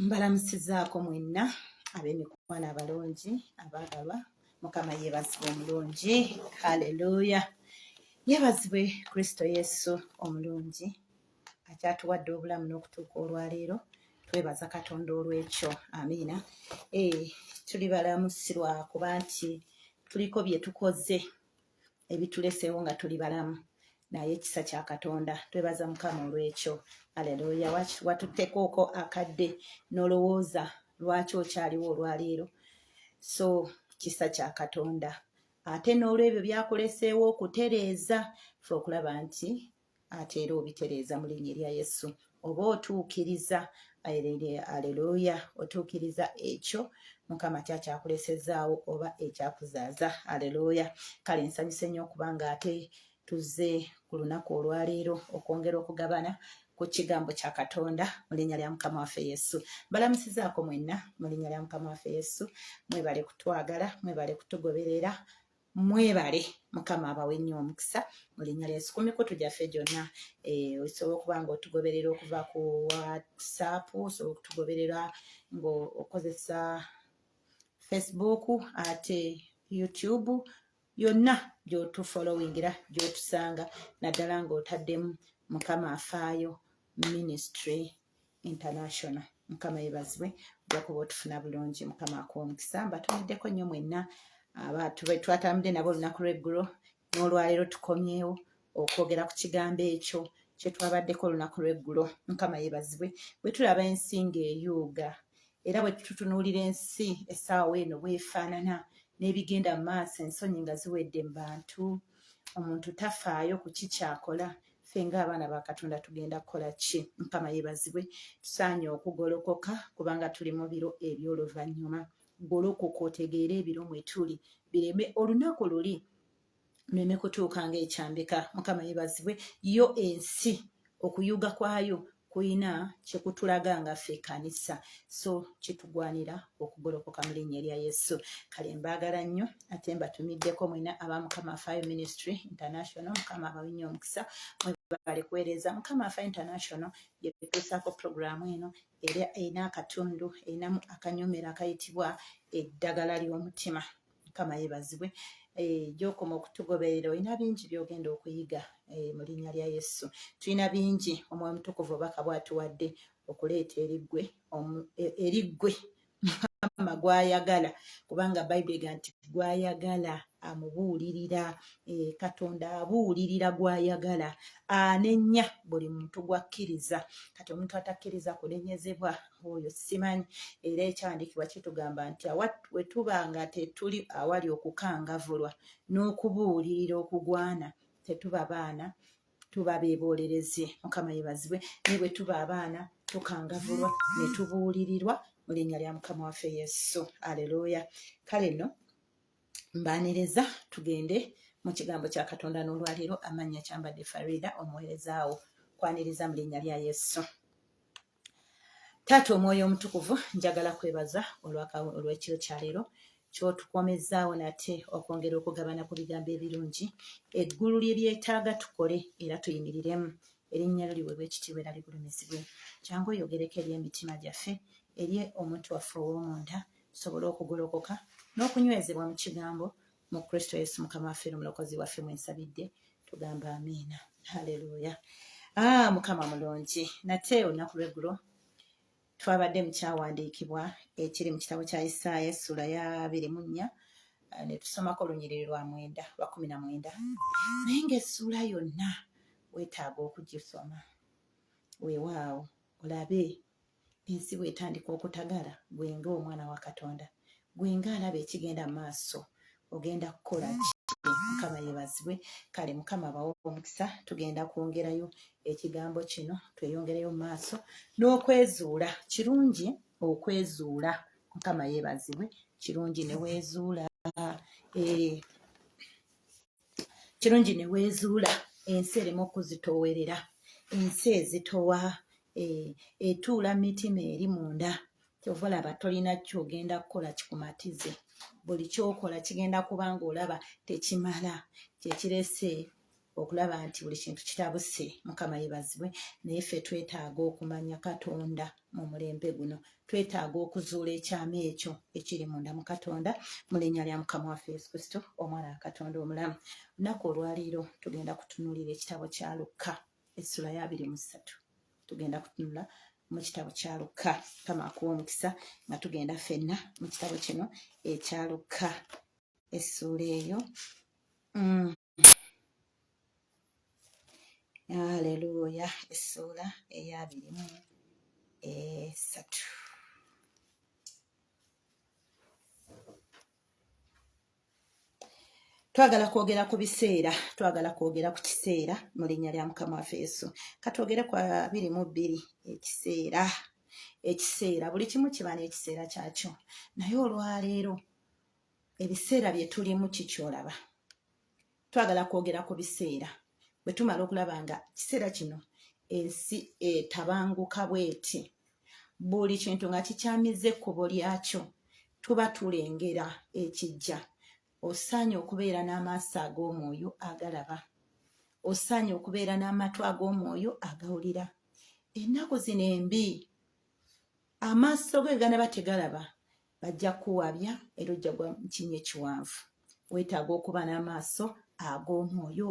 mbalamusizaako mwenna ab'emikwana abalungi abaagalwa mukama yeebazibwe omulungi haleluya yeebazibwe kristo yesu omulungi akyatuwadde obulamu n'okutuuka olwaleero twebaza katonda olw'ekyo amiina eh, tuli balamu sirwakuba nti tuliko bye tukoze ebituleseewo nga tuli balamu naye ekisa kya katonda twebaza mukama olwekyo aleluya watuttekooko akadde nolowooza lwaki okyaliwo olwaleero so kisa kya katonda ate n'olwebyo byakuleseewo okutereeza fe okulaba nti ate era obitereeza mu linnya erya yesu oba otuukiriza aleluya otuukiriza ekyo mukama kyakyakulesezaawo oba ekyakuzaaza aleluya kale nsanyuse nnyo okuba nga ate tuzze ku lunaku olwaleero okwongera okugabana ku kigambo kya katonda mu linnya lya mukama waffe yesu balamusizaako mwenna mu linnya lya mukama waffe yesu mwebale kutwagala mwebale kutugoberera mwebale mukama abawe nnyo omukisa mu linnya lyesu ku mikutu gyaffe gyonna eh, osobola okuba nga otugoberera okuva ku whatsapp osobola okutugoberera ngaokozesa facebook ate youtube yonna gyotufollowingira gyotusanga naddala ngaotaddemu mukama afaayo ministry international mukama yebazibwe ojakuba otufuna bulungi mukama akuwa omukisa mbatumiddeko nnyo mwenna abantu twatambudde nabo olunaku lweggulo n'olwaleero tukomyewo okwogera ku kigambo ekyo kyetwabaddeko olunaku lweggulo mukama yebazibwe bwe tulaba ensi ng'eyuuga era bwe tutunuulira ensi essaawa eno bwefaanana n'ebigenda mu maaso ensonyi nga ziwedde mu bantu omuntu tafaayo ku kikyakola ffe ng'abaana ba katonda tugenda kukola ki mukama yebazibwe tusaanye okugolokoka kubanga tuli mu biro eby'oluvannyuma golokoka otegeere ebiro mwetuli bireme olunaku luli neme kutuuka ngaekyambika mukama yebazibwe yo ensi okuyuga kwayo kulina kyekutulaga nga ffe ekanisa so kitugwanira okugolokoka mu linnya erya yesu kale mbaagala nnyo ate mbatumiddeko mwena aba mukama fire ministry international mukama abawinnya omukisa mwebale kuweereza mukama fire international yetuusaako pulogulaamu eno era erina akatundu erinamu akanyomero akayitibwa eddagala ly'omutima mukama yebazibwe eh, gyokoma okutugoberera olina bingi byogenda okuyiga eh, mu linnya lya yesu tulina bingi omwoyo mutukuvu obaka bwatuwadde okuleeta eriggwe e, eriggwe mukama gwayagala kubanga bayibuli ega nti gwayagala amubuulirira eh, katonda abuulirira gwayagala anenya buli muntu gwakkiriza kati omuntu atakkiriza kunenyezebwa oyo simanyi era ekyandikibwa kitugamba nti wetuba nga tetuli awali okukangavulwa n'okubuulirira okugwana tetuba baana tuba bebolereze mukama yebazibwe naye bwe tuba abaana tukangavulwa ne tubuulirirwa mu linnya lya mukama waffe yesu aleluya kale nno mbaaniriza tugende mu kigambo kya katonda n'olwaleero amannya kyambadde farida omuweerezaawo kwaniriza mu linnya lya yesu taata omwoyo omutukuvu njagala kwebaza olwekiro kyaleero kyotukomezaawo nate okwongera okugabana ku bigambo ebirungi eggulu lye lyetaaga tukole era tuyimiriremu erinnya lyo liwebwa ekitiibwa era ligulumizibwe kyangu oyogereko eri emitima gyaffe eri omuntu waffe ow'omunda tusobole okugolokoka n'okunywezebwa mu kigambo mu kristo yesu mukama waffe nomulokozi waffe mwensabidde tugamba amiina haleluya ah, mukama mulungi nate olunaku lweggulo twabadde mukyawandiikibwa ekiri mu kitabo kya isaaya essula ya biri mu nnya ah, netusomako olunyiriri lwa mwenda lwa kumi na mwenda naye ngaessuula yonna wetaaga okugisoma wewaawo olabe ensi bwetandika okutagala gwe nga omwana wa katonda gwe nga alaba ekigenda maaso ogenda kukola ki mukama yebazibwe kale mukama abawo omukisa tugenda kwongerayo ekigambo kino tweyongereyo mu maaso n'okwezuula kirungi okwezuula mukama yebazibwe kirungi newezuula ee eh, kirungi ne weezuula ensi erimu okuzitoowerera ensi ezitowa e, etuula e, mitima eri munda kyova olaba tolina kyogenda kukola kikumatize buli kyokola kigenda kuba nga olaba tekimala kyekirese okulaba nti buli kintu kitabuse mukama yebazibwe naye ffe twetaaga okumanya katonda mu mulembe guno twetaaga okuzuula ekyama ekyo ekiri munda mu katonda mu linnya lya mukama waffe yesu kristo omwana wa katonda omulamu lunaku olwaliiro tugenda kutunulira ekitabo kya lukka essula ya abiri mu ssatu tugenda kutunula mu kitabo kya lukka kama akuwa omukisa nga tugenda fenna mu kitabo kino ekya lukka essuula eyo mm. Haleluya, essuula ey'abiri mu esatu. twagala kwogera ku biseera twagala kwogera ku kiseera mu linnya lya mukama waffe yesu katwogere ku abiri mu bbiri ekiseera ekiseera buli kimu kiba n'ekiseera kyakyo naye olwaleero ebiseera bye tulimu kikyolaba twagala kwogera ku biseera bwe tumala okulaba nga kiseera kino ensi etabanguka bweti buli kintu nga kikyamize ekkubo lyakyo tuba tulengera ekijja osaanye okubeera n'amaaso ag'omwoyo agalaba osaanye okubeera n'amatu ag'omwoyo agawulira ennaku zino embi amaaso ge ganaba tegalaba bajja kuwabya era ojja gwa mukinya ekiwanvu wetaaga okuba n'amaaso ag'omwoyo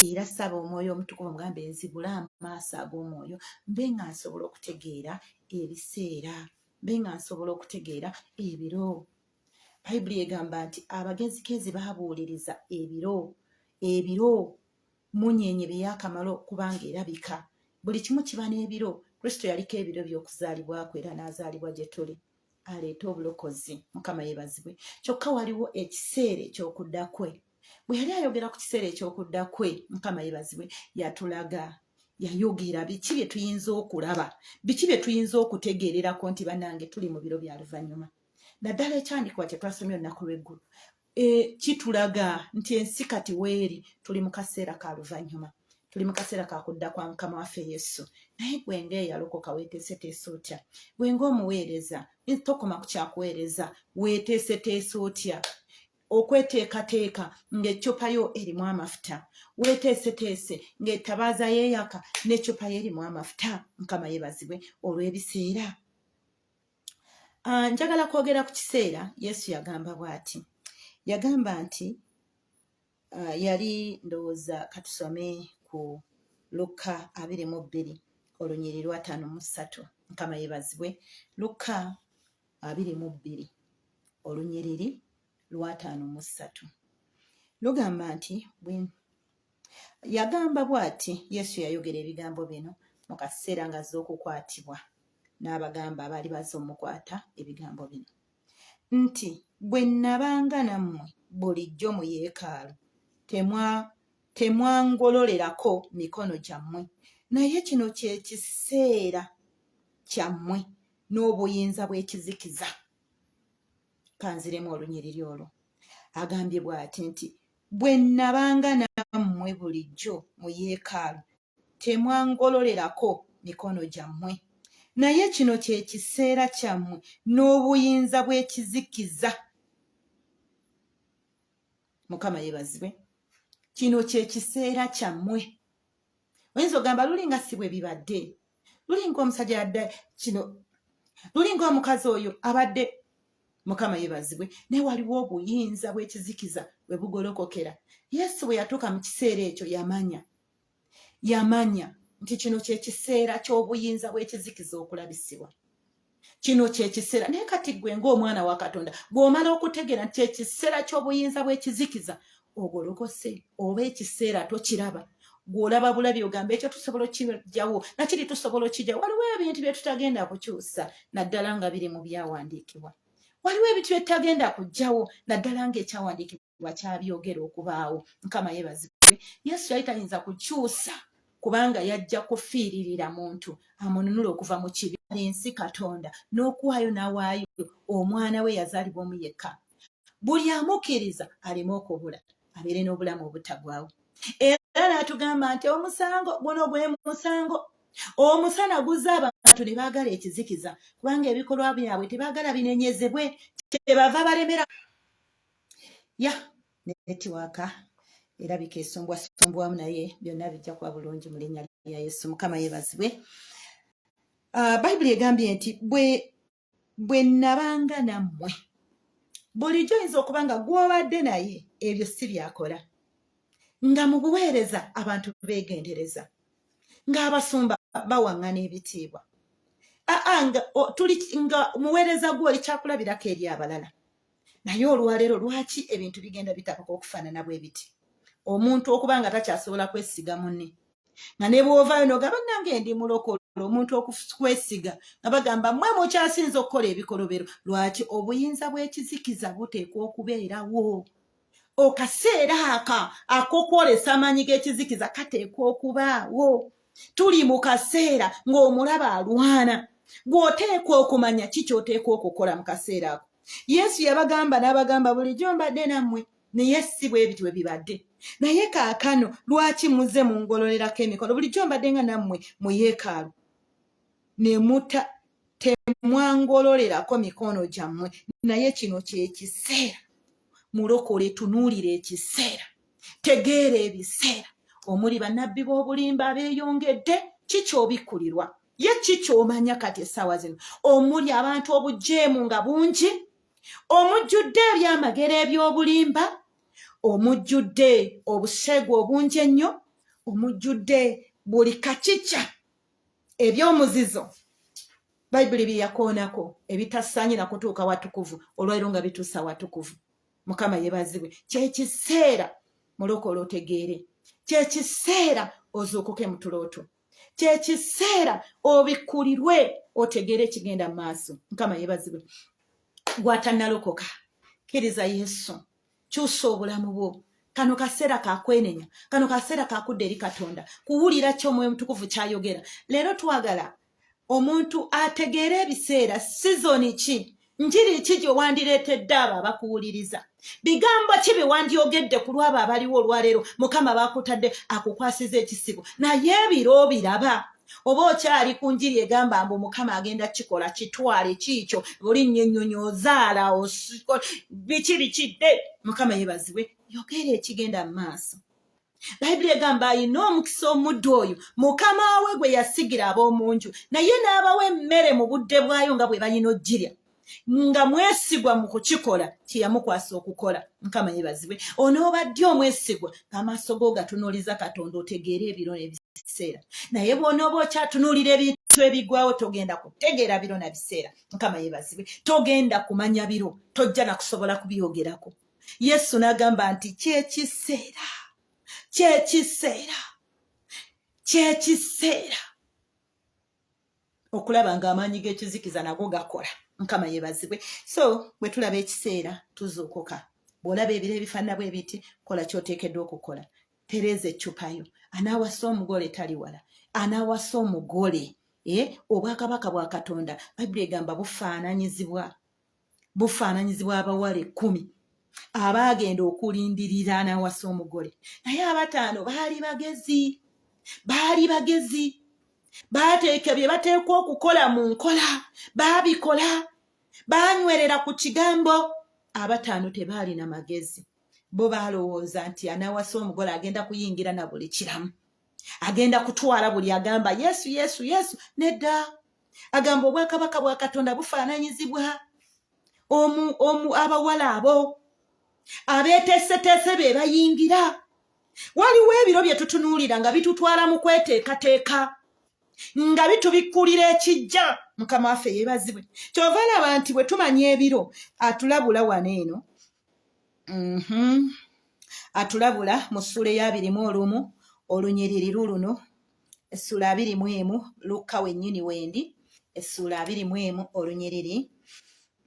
era saba omwoyo omutukuvu omugambe nzibule amaaso ag'omwoyo mbe nga nsobola okutegeera ebiseera mbe nga nsobola okutegeera ebiro bayibuli egamba nti abagezikezi babuuliriza ebiro ebiro munyenye byeyakamala okubanga erabika buli kimu kiba n'ebiro kristo yaliko ebiro by'okuzaalibwakwe era n'azaalibwa gye tuli aleeta obulokozi mukama yebazibwe kyokka waliwo ekiseera ekyokudda kwe bwe yali ayogera ku kiseera ekyokudda kwe mukama yebazibwe yatulaga yayogera biki bye tuyinza okulaba biki bye tuyinza okutegeererako nti banange tuli mu biro bya luvannyuma naddala ekyandikibwa kye twasomye olunaku lw'eggulu e, kitulaga nti ensi kati weeri tuli mu kaseera ka luvannyuma tuli mu kaseera ka kudda kwa mukama waffe yesu naye gwe nga eyalokoka weeteeseteese otya gwe nga omuweereza tokoma ku kyakuweereza weeteeseteese otya okweteekateeka ng'eccupa yo erimu amafuta weeteeseteese ng'etabaaza yeeyaka n'eccupa yo erimu amafuta mukama yeebazibwe olw'ebiseera Ah, njagala kwogera ku kiseera yesu yagamba bwati yagamba nti ah, yali ndowooza katusome ku lukka abiri mu bbiri olunyiri lwataano mu ssatu mukama yebazibwe lukka abiri mu bbiri olunyiriri lwataano mu ssatu lugamba nti yagamba bw'ati yesu yayogera ebigambo bino mu kaseera nga z'okukwatibwa n'abagamba abaali baza omukwata ebigambo bino nti bwe nnabanga nammwe bulijjo mu yeekaalu temwangololerako mikono gyammwe naye kino kye kiseera kyammwe n'obuyinza bw'ekizikiza kanziremu olunyiriri olwo agambye bw'ati nti bwe nnabanga nammwe bulijjo mu yeekaalu temwangololerako mikono gyammwe naye kino kye kiseera kyammwe n'obuyinza bw'ekizikiza mukama yeebazibwe kino kye kiseera kyammwe oyinza ogamba luli nga si bwe bibadde lulinga omusajja yadda kino lulinga omukazi oyo abadde mukama yebazibwe naye waliwo obuyinza bwekizikiza webugolokokera yesu bwe yatuuka mu kiseera ekyo yamanya yamanya nti kino kyekiseera ky'obuyinza bw'ekizikiza okulabisibwa kino kyekiseera naye kati gwe ngaomwana wa katonda gweomala okutegeera nti kyekiseera ky'obuyinza bw'ekizikiza ogolokose oba ekiseera tokiraba gwolaba bulabi ogamba ekyo tusobola okkijawo nakiri tusobola okkijawo waliwo ebintu byetutagenda kukyusa naddala nga biri mu byawandiikibwa waliwo ebintu byetutagenda kujjawo naddala nga ekyawandiikibwa wakyabyogera okubaawo mukama yebazibwe yesu yali tayinza kukyusa kubanga yajja kufiiririra muntu amununula okuva mu kibi ensi katonda n'okuwaayo nawaayo omwana we yazaalibwa omu yekka buli amukkiriza aleme okubula abeere n'obulamu obutagwawo era n'atugamba nti omusango guno gwe musango omusana guzza abantu ne baagala ekizikiza kubanga ebikolwa byabwe tebaagala binenyezebwe kyebava balemera ya netiwaaka erabika esombwasombwamu naye byonna bijja kuba bulungi mu linnya lya yesu mukama yebazibwe ah, bayibuli egambye nti bwe nabanga nammwe bulijjo oyinza okuba nga gwobadde naye ebyo si byakola nga mu buweereza abantu beegendereza ng'abasumba bawaŋŋana ebitiibwa aa nga tuli nga muweereza gwe oli kyakulabirako eri abalala naye olwaleero lwaki ebintu bigenda bitabuka okufaanana bwe biti omuntu okuba nga takyasobola kwesiga mune nga ne bw'ovaayo nogamba nange ndi mulokolo omuntu okukwesiga nga bagamba mwe mukyasinza okukola ebikolobero lwaki obuyinza bw'ekizikiza buteekwa okubeerawo okaseera aka ak'okwolesa amaanyi g'ekizikiza kateekwa okubaawo tuli mu kaseera ng'omulaba alwana gw'oteekwa okumanya ki ky'oteekwa okukola mu kaseera ako yesu yabagamba n'abagamba bulijjo mbadde nammwe naye si bwe bityo bwe bibadde naye kaakano lwaki muze mu ngololerako emikono bulijjo mbadde nga nammwe mu yeekaalu ne muta temwangololerako mikono gyammwe naye kino kyekiseera mulokole tunuulira ekiseera tegeera ebiseera omuli banabbi b'obulimba abeyongedde kikyobikkulirwa ye kikyomanya kati essaawa zino omuli abantu obujeemu nga bungi omujjudde ebyamagero eby'obulimba omujjudde obuseegu obungi ennyo omujjudde buli kakica ebyomuzizo bayibuli byeyakoonako ebitasaanye nakutuuka watukuvu olwaliro nga bituusa watukuvu mukama yebazibwe kyekiseera mulokole otegeere kyekiseera ozuukuke mutulooto kyekiseera obikulirwe otegeere ekigenda maaso mukama yebazibwe gwatanalokoka kiriza yesu kyusa obulamu bwo kano kaseera kakwenenya kano kaseera kakudda eri katonda kuwulira kyo omwoyo omutukuvu kyayogera leero twagala omuntu ategeera ebiseera sizoni ki njiri ki gye wandireetedde abo abakuwuliriza bigambo ki bye wandyogedde ku lwabo abaliwo olwaleero mukama bakutadde akukwasiza ekisibo naye ebiro biraba oba okyali ku njiri egamba mbu mukama agenda kikola kitwale kiikyo bulinnyo ennyonyi ozaala biki bikidde mukama yebazibwe yogera ekigenda mu maaso bayibuli egamba ayina omukisa omuddu oyo mukama we gwe yasigira ab'omu nju naye n'abawa emmere mu budde bwayo nga bwe balina ojjirya nga mwesigwa mu kukikola kyeyamukwasa okukola mukama yebazibwe onoobaddi omwesigwa amaaso go ogatunuuliza katonda otegeere ebiro nebiseera naye bwonooba okyatunuulira ebintu ebigwawo togenda kutegeera biro na biseera mukama yebazibwe togenda kumanya biro tojja nakusobola kubyogerako yesu n'agamba nti kyekiseera kyekiseera kyekiseera okulaba nga amaanyi g'ekizikiza nago gakola mukama yebazibwe so bwe tulaba ekiseera tuzuukuka bw'olaba ebiro ebifaanana bwe biti kola kyoteekeddwa okukola tereeza eccupayo anaawasa omugole tali wala anaawasa omugole eh, obwakabaka bwa katonda bayibuli egamba bufaananyizibwa bufaananyizibwa abawala ekkumi abaagenda okulindirira n'awasa omugole naye abataano baali bagezi baali bagezi baateeka bye bateekwa okukola mu nkola baabikola baanywerera ku kigambo abataano tebaalina magezi bo baalowooza nti anawasa omugole agenda kuyingira na buli kiramu agenda kutwala buli agamba yesu yesu yesu nedda agamba obwakabaka bwa katonda bufaananyizibwa omu omu abawala abo abeeteeseteese be bayingira waliwo ebiro bye tutunuulira nga bitutwala mu kweteekateeka nga bitubikkulira ekijja mukama waffe yeebazibwe kyova laba nti bwe tumanya ebiro atulabula wano eno mhm. atulabula mu ssuula eyabirimu olumu olunyiriri luluno essuula abiri mu emu lukka wennyini wendi essuula abiri mu emu olunyiriri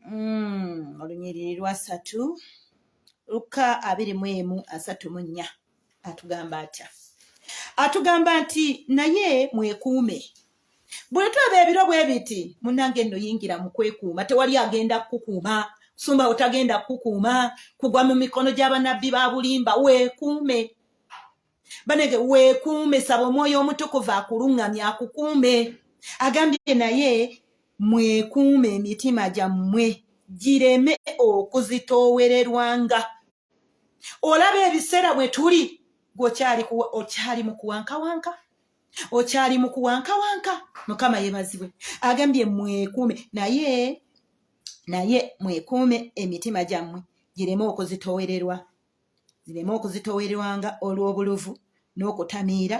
mm, olunyiriri lwasatu lukka abiri mu emu asatu mu nnya atugamba atya atugamba nti naye mwekuume bwe tweba ebiro bwe biti munnange nno yingira mu kwekuuma tewali agenda kukukuuma sumba otagenda kukukuuma kugwa mu mikono gy'abanabbi ba bulimba weekuume banange weekuume saba omwoyo omutukuvu akulungamya akukuume agambye naye mwekuume emitima gyammwe gireme okuzitoowererwanga olaba ebiseera bwe tuli gweokyali okyali mu kuwankawanka okyali mu kuwankawanka mukama yebazibwe agambye mwekuume naye naye mwekuume emitima gyammwe gireme okuzitoowererwa zireme okuzitowerwanga olw'obuluvu n'okutamiira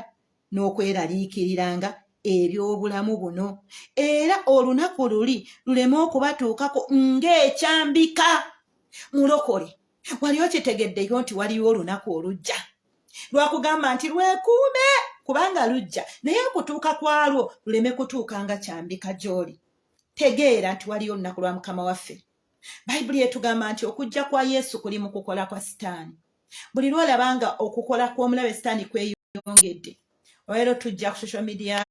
n'okweraliikiriranga eby'obulamu buno era olunaku luli luleme okubatuukako ng'ekyambika mulokole wali okitegeddeyo nti waliwo olunaku olujja lwakugamba nti lwekuume kubanga lujja naye okutuuka kwalwo luleme kutuuka nga kyambika gy'oli tegeera nti waliyo olunaku lwa mukama waffe bayibuli etugamba nti okujja kwa yesu kuli mu kukola kwa sitaani buli lwolaba nga okukola kw'omulabe sitaani kweyongedde olwaleero tujja ku social media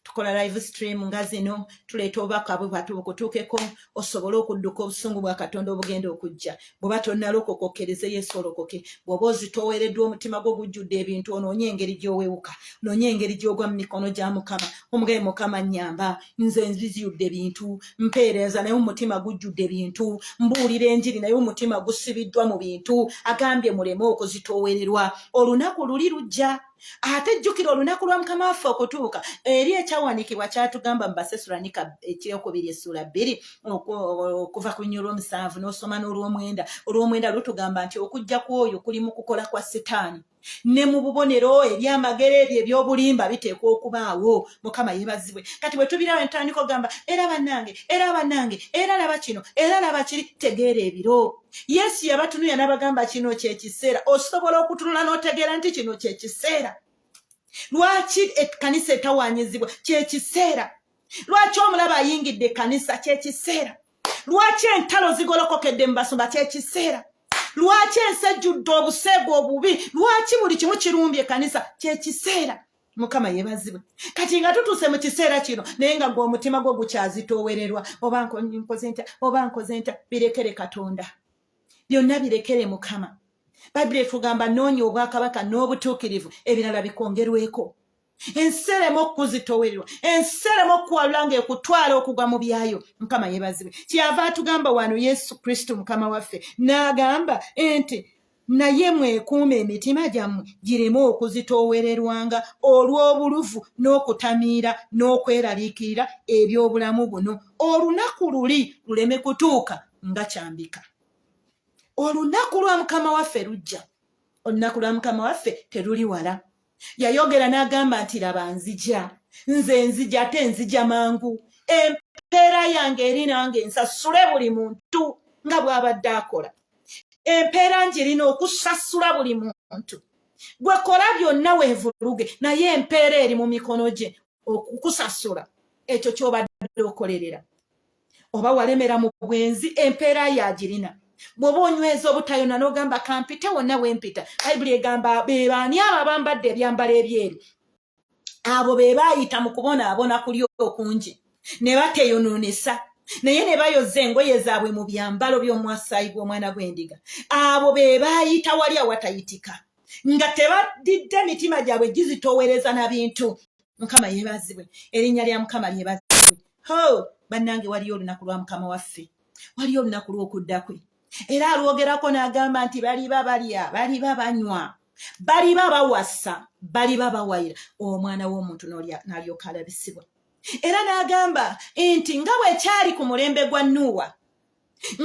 tukola live stream nga zino tuleeta obubaka bwe bwatu bukutuukeko osobole okudduka obusungu bwa katonda obugenda okujja bweba tonnalokoka okkereze yesu olokoke bwoba ozitoweereddwa omutima gwo gujjudde ebintu onoonye engeri gy'owewuka noonye engeri gy'ogwa mu mikono gya mukama omugabe mukama nyamba nze nziziyudde bintu mpeereza naye omutima gujjudde bintu mbuulira enjiri naye omutima gusibiddwa mu bintu agambye muleme okuzitoowererwa olunaku luli lujja ate jjukira olunaku lwa mukama waffe okutuuka eri ekyawanikibwa kyatugamba mubasesulanika ekyokubiri essuula bbiri okuva ku nyo olwomusanvu n'osoma n'olwomwenda olwomwenda lutugamba nti okujja kw'oyo kuli mu kukola kwa sitaani ne mu bubonero ebyamagero ebyo ebyobulimba biteekwa okubaawo mukama yebazibwe kati bwe tubirawo entandika ogamba era banange era banange era laba kino era laba kiri tegeera ebiro yesu yabatunuya n'abagamba kino kyekiseera osobola okutunula n'otegeera nti kino kyekiseera lwaki ekkanisa etawanyizibwa kyekiseera lwaki omulaba ayingidde ekkanisa kyekiseera lwaki entalo zigolokokedde mu basumba kyekiseera lwaki ensi ejjudde obuseegu obubi lwaki buli kimu kirumbye ekanisa kyekiseera mukama yebazibwe kati nga tutuuse mu kiseera kino naye nga gwe omutima gwo gukyazitoowererwa oba nkoze ntya oba nkoze ntya birekere katonda byonna birekere mukama bayibuli etugamba noonya obwakabaka n'obutuukirivu ebirala bikwongerweko ensi ereme okukuzitowererwa ensi ereme okukuwalula nga ekutwala okugwa mu byayo mukama yebazibwe kyeyava atugamba wano yesu kristo mukama waffe n'agamba nti naye mwekuuma emitima gyammwe gireme okuzitoowererwanga olw'obuluvu n'okutamiira n'okweraliikirira eby'obulamu buno olunaku luli luleme kutuuka nga kyambika olunaku lwa mukama waffe lujja olunaku lwa mukama waffe teruli wala yayogera n'agamba nti laba nzija nze nzija ate nzija mangu empeera yange eri nange nsasule buli muntu nga bw'abadde akola empeera ngirina okusasula buli muntu gwe kola byonna weevuluge naye empeera eri mu mikono gye okukusasula ekyo ky'obadde okolerera oba walemera mu bwenzi empeera yagirina bwoba onyweza obutayona nogamba kampite wonna wempita bayibuli egamba bebaani abo abambadde ebyambalo ebyeru abo be baayita mu kubonaabona kuli okungi ne bateyonoonesa naye ne bayoza engoye zaabwe mu byambalo by'omwasaayi gw'omwana gw'endiga abo be baayita wali awatayitika nga tebadidde mitima gyabwe gizitoowereza na bintu mukama yebazibwe erinnya lya mukama lyebazibwe ho bannange waliyo olunaku lwa mukama waffe waliyo olunaku lw'okudda kwe era alwogerako n'agamba nti baliba balya baliba banywa baliba bawasa baliba bawayira omwana w'omuntu n'alyoka alabisibwa era n'agamba nti nga bwekyali ku mulembe gwa nuuwa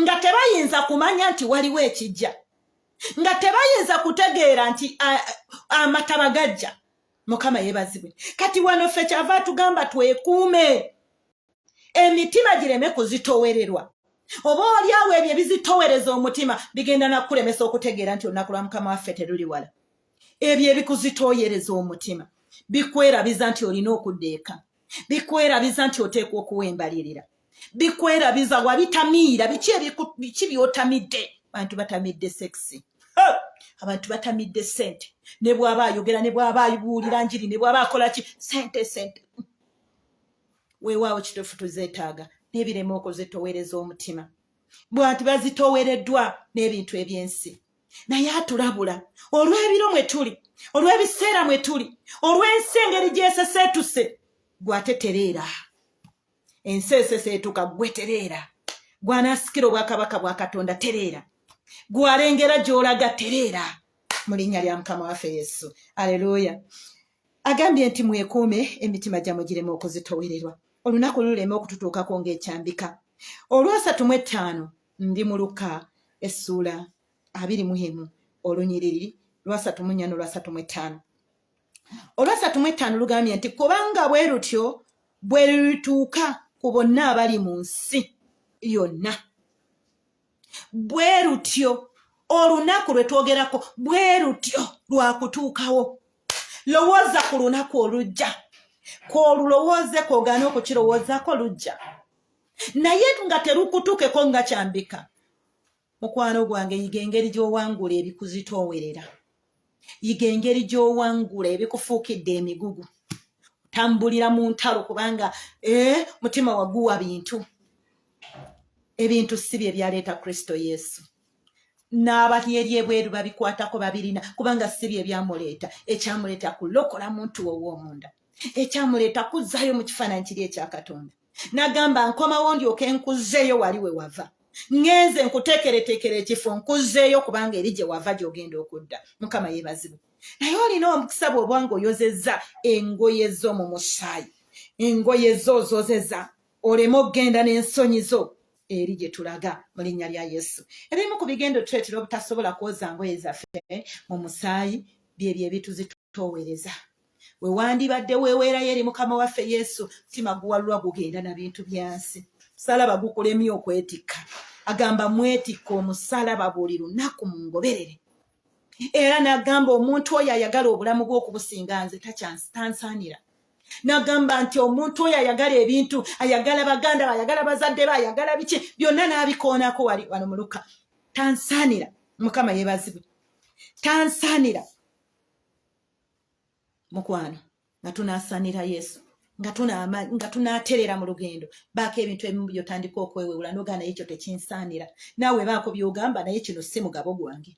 nga tebayinza kumanya nti waliwo ekijja nga tebayinza kutegeera nti amataba gajja mukama yebazibwe kati wano ffe kyava tugamba twekuume emitima gireme kuzitowererwa oba olyawo ebyo ebizitowereza omutima bigenda nakulemesa okutegeera nti olunaku lwa mukama waffe teruli wala ebyo ebikuzitoyereza omutima bikwerabiza nti olina okudda eka bikwerabiza nti oteekwa okuwa embalirira bikwerabiza wabitamiira biki biki byotamidde abantu batamidde sekisi abantu batamidde sente ne bwaba ayogera ne bwaba ayibuulira njiri ne bwaba akola ki sente sente weewaawo kituufu tuzeetaaga n'ebirema okozetowereza omutima bwati bazitowereddwa n'ebintu ebyensi naye atulabula olw'ebiro mwe tuli olw'ebiseera mwe tuli olw'ensi engeri gyeseseetuse gwe ate tereera ensi eseseetuka gwe tereera gw'anaasikira obwakabaka bwa katonda tereera gw'alengera gy'olaga tereera mu linnya lya mukama waffe yesu aleluuya agambye nti mwekuume emitima gyamwe girema okuzitowererwa olunaku lulema okututuukako ng'ekyambika olwasatu mu ettaano ndi mu luka essuula abiri mu emu olunyiriri lwasatu mu nnya n'olwasatu mu ettaano olwasatu mu ettaano lugambye nti kubanga bwe lutyo bwe lulituuka ku bonna abali mu nsi yonna bwe lutyo olunaku lwe twogerako bwe lutyo lwakutuukawo lowooza ku lunaku olujja kwolulowooze kwogaana okukirowoozako lujja naye nga terukutukeko nga kyambika mukwano gwange yiga engeri gyowangula ebikuzitoowerera yiga engeri gyowangula ebikufuukidde emigugu tambulira mu ntalo kubanga eh, mutima waguwa bintu ebintu si bye byaleeta kristo yesu n'abali eri ebweru babikwatako babirina kubanga si bye byamuleeta ekyamuleeta kulokola muntu wowoomunda ekyamuleeta kuzzaayo mu kifaananyi kiri ekya katonda nagamba nkomawo ndyoke nkuzzeeyo wali we wava ngenze nkuteekereteekera ekifo nkuzzeeyo kubanga eri gye wava gy'ogenda okudda mukama yeebazibwe naye olina omukisa bw'oba nga oyozezza engoye zo mu musaayi engoye zo ozozeza oleme okugenda n'ensonyi zo eri gye tulaga mu linnya lya yesu ebimu ku bigendo tuleetera obutasobola kwoza ngoye zaffe mu musaayi byebyo ebituzitoowereza we wandibadde weeweerayo eri mukama waffe yesu mutima guwalulwa gugenda na bintu byansi musalaba gukulemye okwetikka agamba mwetikka omusalaba buli lunaku mu ngoberere era n'agamba omuntu oyo ayagala obulamu bw'okubusinga nze takyansitansaanira nagamba nti omuntu oyo ayagala ebintu ayagala baganda be ayagala bazadde be ayagala biki byonna n'abikoonako wali wano muluka tansaanira mukama yebazibwe tansaanira mukwano nga tunasanira yesu nga tunaterera mu lugendo baako ebintu ebimu byotandika okwewewula nogaa naye ekyo tekinsaanira naawe baako byogamba naye kino si mugabo gwange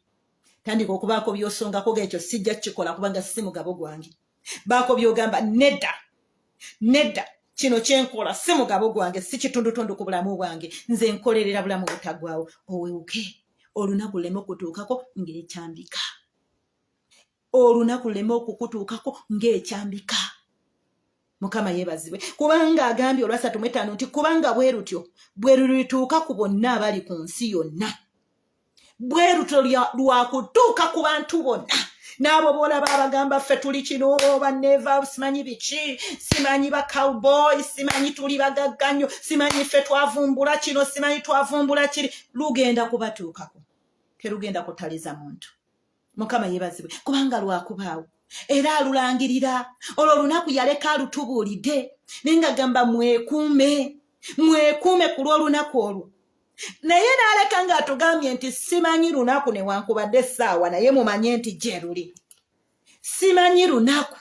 tandika okubaako byosongako gaekyo sijja kukikola kubanga si mugabo gwange baako byogamba nedda nedda kino kyenkola si mugabo gwange si kitundutundu ku bulamu bwange nze nkolerera bulamu butagwawo owewuke olunaku luleme okutuukako ngeekyambika olunaku luleme okukutuukako ng'ekyambika mukama yebazibwe kubanga agambye olwasatu mu etaano nti kubanga bwe lutyo bwe lulituuka ku bonna abali ku nsi yonna bwe lutyo lwakutuuka ku bantu bonna n'abo boolaba abagamba ffe tuli kino baneva simanyi biki simanyi ba cowboy simanyi tuli bagagga nnyo simanyi ffe twavumbula kino simanyi twavumbula kiri lugenda kubatuukako terugenda kutaliza muntu mukama yebazibwe kubanga lwakubaawo era alulangirira olwo olunaku yaleka alutubuulidde naye nga gamba mwekuume mwekuume ku lw'olunaku olwo naye n'aleka ng'atugambye nti simanyi lunaku newankubadde essaawa naye mumanye nti gye luli simanyi lunaku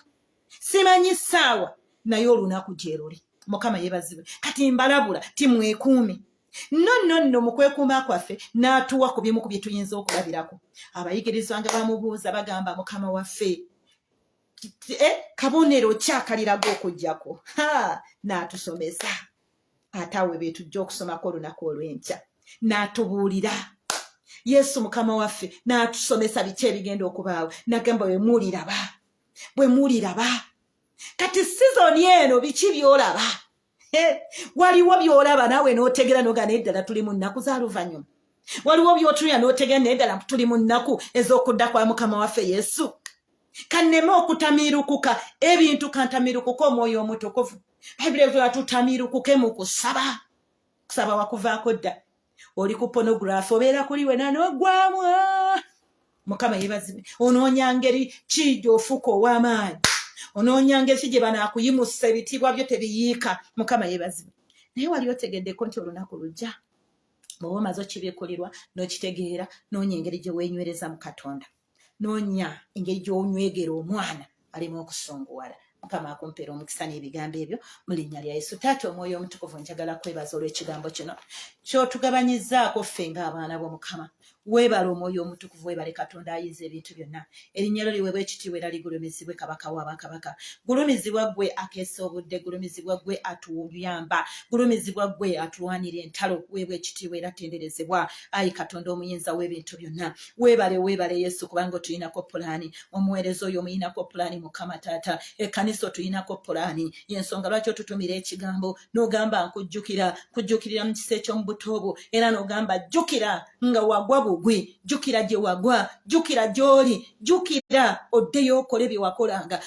simanyi ssaawa naye olunaku gye luli mukama yebazibwe kati mbalabula timwekuumi no no no mu kwekuuma kwaffe n'atuwa ku bimu ku bye tuyinza okulabirako abayigirizwa nga bamubuuza bagamba mukama waffe eh, kabonero kyakaliraga okujjako n'atusomesa ate awe betujja okusomako olunaku olw'enkya n'atubuulira yesu mukama waffe n'atusomesa biki ebigenda okubaawo nagamba bwe muliraba bwe muliraba kati sizoni eno biki byolaba waliwo byolaba naawe n'otegera noga naye ddala tuli mu nnaku za luvannyuma waliwo byotunira n'otegera naye ddala tuli mu nnaku ez'okudda kwa mukama waffe yesu kanneme okutamiirukuka ebintu kantamiirukuka omwoyo omutukuvu bayibuli evuga tutamiirukuke mu kusaba kusaba wakuvaako dda oli ku pornography obeera kuli wena nogwamu ah! mukama yebazibe onoonya ngeri ki gyofuuka ow'amaanyi onoonya ngeri ki gye banaakuyimusa ebitiibwa byo tebiyiika mukama yebazibe naye wali otegeddeko nti olunaku lujja bwoba omaze okibikulirwa n'okitegeera noonya engeri gye weenywereza mu katonda noonya engeri gy'onywegera omwana alina okusunguwala mukama akumpeera omukisa n'ebigambo ebyo mu linnya lya yesu taata omwoyo omutukuvu njagala kwebaza olw'ekigambo kino kyotugabanyizaako ffe ng'abaana bo mukama weebale omwoyo omutukuvu weebale katonda ayinza ebintu byonna erinnya lyo liweebwa ekitiibwa era ligulumizibwe kabaka wa bakabaka gulumizibwa ggwe akeesa obudde gulumizibwa ggwe atuyamba gulumizibwa ggwe atulwanira entalo weebwa ekitiibwa era tenderezebwa ayi katonda omuyinza w'ebintu byonna webale webale yesu kubanga otuyinako pulaani omuweereza oyo omuyinako pulaani mukama taata ekkanisa otuyinako pulaani yensonga lwaki otutumira ekigambo n'ogamba nkujjukira kujjukirira mu kisa eky'omubuto obwo era n'ogamba jjukira nga wagwa bugwi jjukira gye wagwa jjukira gy'oli jjukira oddeyo okole bye wakolanga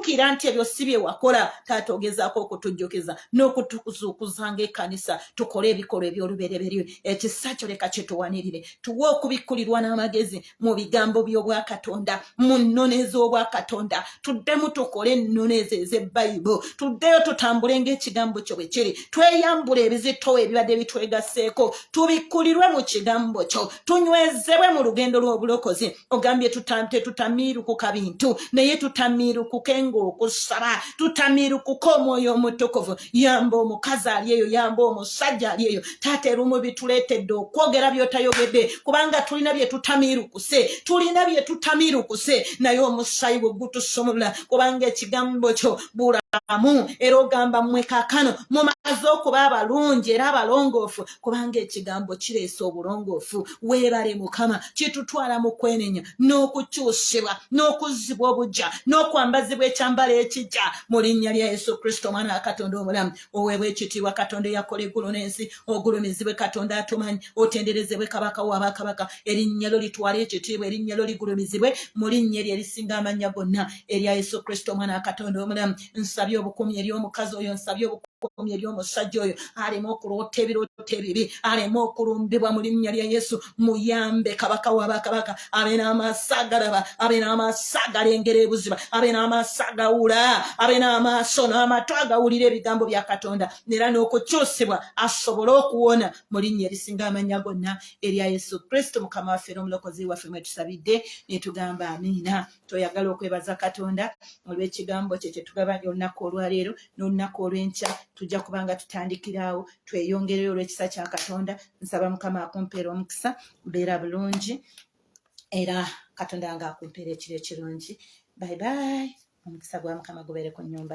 jjukira nti ebyo si bye wakola taata ogezaako okutujjukiza n'okutuzuukuza ng'ekkanisa tukole ebikolwa eby'olubereberye ekisa kyo leka kituwanirire tuwe okubikkulirwa n'amagezi mu bigambo by'obwakatonda mu nnono ez'obwakatonda tuddemu tukole ennono ezo ez'ebbayibo tuddeyo tutambule ng'ekigambo kyo bwe kiri tweyambule ebizitowo ebibadde bitwegasseeko tubikkulirwe mu kigambo kyo tunywezebwe mu lugendo lw'obulokozi ogambye tetutamiirukuka bintu naye tutamiirukuke ngaokusaba tutamiirukuka omwoyo omutukuvu yamba omukazi ali eyo yamba omusajja ali eyo taata erumu bituleetedde okwogera byotayogedde kubanga tulina byetutamiirukuse tulina byetutamiirukuse naye omusayi bwe gutusumulula kubanga ekigambo kyo bula amu era ogamba mmwe kakano mumaze okuba abalungi era abalongoofu kubanga ekigambo kireesa obulongoofu weebale mukama kitutwala mu kwenenya n'okukyusibwa n'okuzzibwa obujja n'okwambazibwa ekyambalo ekijja mu linnya lya yesu kristo omwana wa katonda omulamu oweebwa ekitiibwa katonda eyakola eggulu n'ensi ogulumizibwe katonda atumanyi otenderezebwe kabaka wa bakabaka erinnya lyo litwala ekitiibwa erinnya lyo ligulumizibwe mu linnya eryo erisinga amannya gonna erya yesu kristo omwana wa katonda omulamu nsabye obukuumi eri omukazi oyo nsabye obukomye eri omusajja oyo aleme okuloota ebirooto ebibi aleme okulumbibwa mu linnya lya yesu muyambe kabaka wabakabaka abe n'amaaso agalaba abe n'amaaso agalengera ebuziba abe n'amaaso agawula abe n'amaaso n'amatu agawulira ebigambo bya katonda era n'okukyusibwa asobole okuwona mu linnya erisinga amanya gonna erya yesu kristo mukama waffe n'omulokozi waffe mwetusabidde netugamba amiina toyagala okwebaza katonda olw'ekigambo kye kyetugabanya olunaku olwaleero n'olunaku olw'enkya tujja kubanga tutandikiraawo tweyongereyo olw'ekisa kya katonda nsaba mukama akumpeera omukisa beera bulungi era katonda nga akumpeera ekiro ekirungi bye bye omukisa gwa mukama gubeere ku nyumba